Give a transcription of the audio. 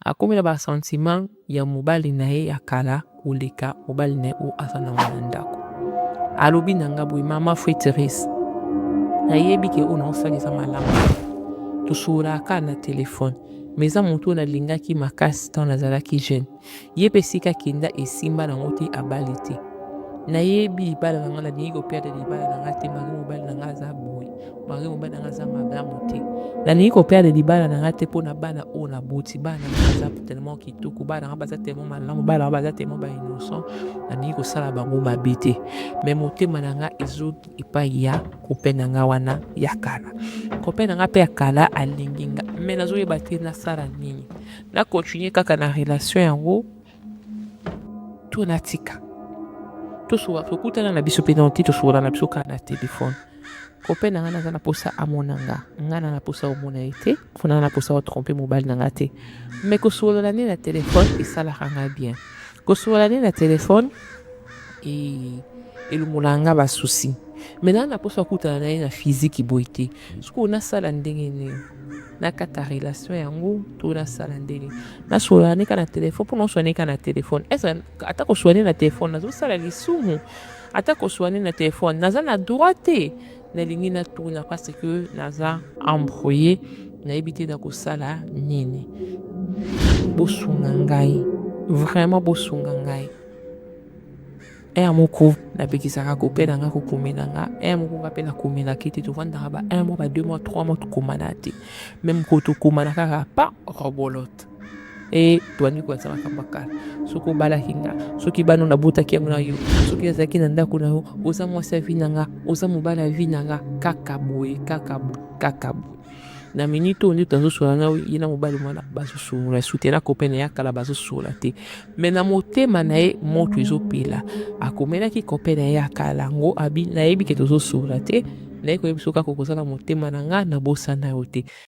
Akomi na ba sentiment ya mobali na ye ya kala koleka mobali na ye oyo aza na yango na ndako. Alobi na nga boye, mama Fue Therese, nayebi ke oyo naosala eza malamu tosololaka kaka na telefone ma eza moto oyo nalingaki makasi ntango nazalaki jeune ye mpe esika kenda esimba nango te abali te nayebi libala na ngai nalingi koperde libala na ngai te mama mobali na ngai aza boye Marie mobali na nga aza malamu te nalingi koperde libala na nga te mpo na bana oyo naboti bana na nga baza tellement kitoko bana na nga baza tellement malamu bana na nga baza tellement ba innocent nalingi kosala bango mabe te mai motema na nga ezoki epai ya kope na nga wana ya kala kope na nga mpe ya kala alingi nga mai nazoyeba te nasala nini na continue kaka na relation yango to natika tosoba tokutana na biso mpenza te tosokola na biso kaka na telefone kope na ngai naza na mposa amona nga ngai na na mposa omona ye te mpo na na mposa otrompe mobali na ngai te mai kosolola nde na telefone esalaka ngai bien kosolola nde na telefone e, elumolaka ngai basusi mai naa na mposa okutana na ye na fiziki boye te sikoyo nasala ndenge nini nakata relation yango to nasala ndenge nasolola neka na telefone mpo noswa neka na telefone esa ata koswane na telefone nazosala lisumu ata koswane na telefone naza na droit te nalingi natuna parce que naza embrouille nayebi te nakosala nini bosunga ngai vraiment bosunga ngai heure moko napekisaka kope na nga kokomela nga heure moko nga mpe nakomelaki te tofandaka ba un mois ba deux mois trois mois tokomana te meme ko tokomana kaka pa robolote e toyandi koyatisa makambo ya kala soki obalaki nga soki bana nabotaki yango na yo soki azalaki na ndako na yo oza mwasi ya vi na nga oza mobali ya vi na nga kaka boye kaka boye kaka boye na minute oyo nde azosola na ye na mobali mwana bazosolola sute na kope na ye akala bazosolola te me na motema na ye moto ezopela akomelaki kope na ye akala yango nayebi ke tozosolola te naye koyebi soki akokoza na motema na nga nabosana yo te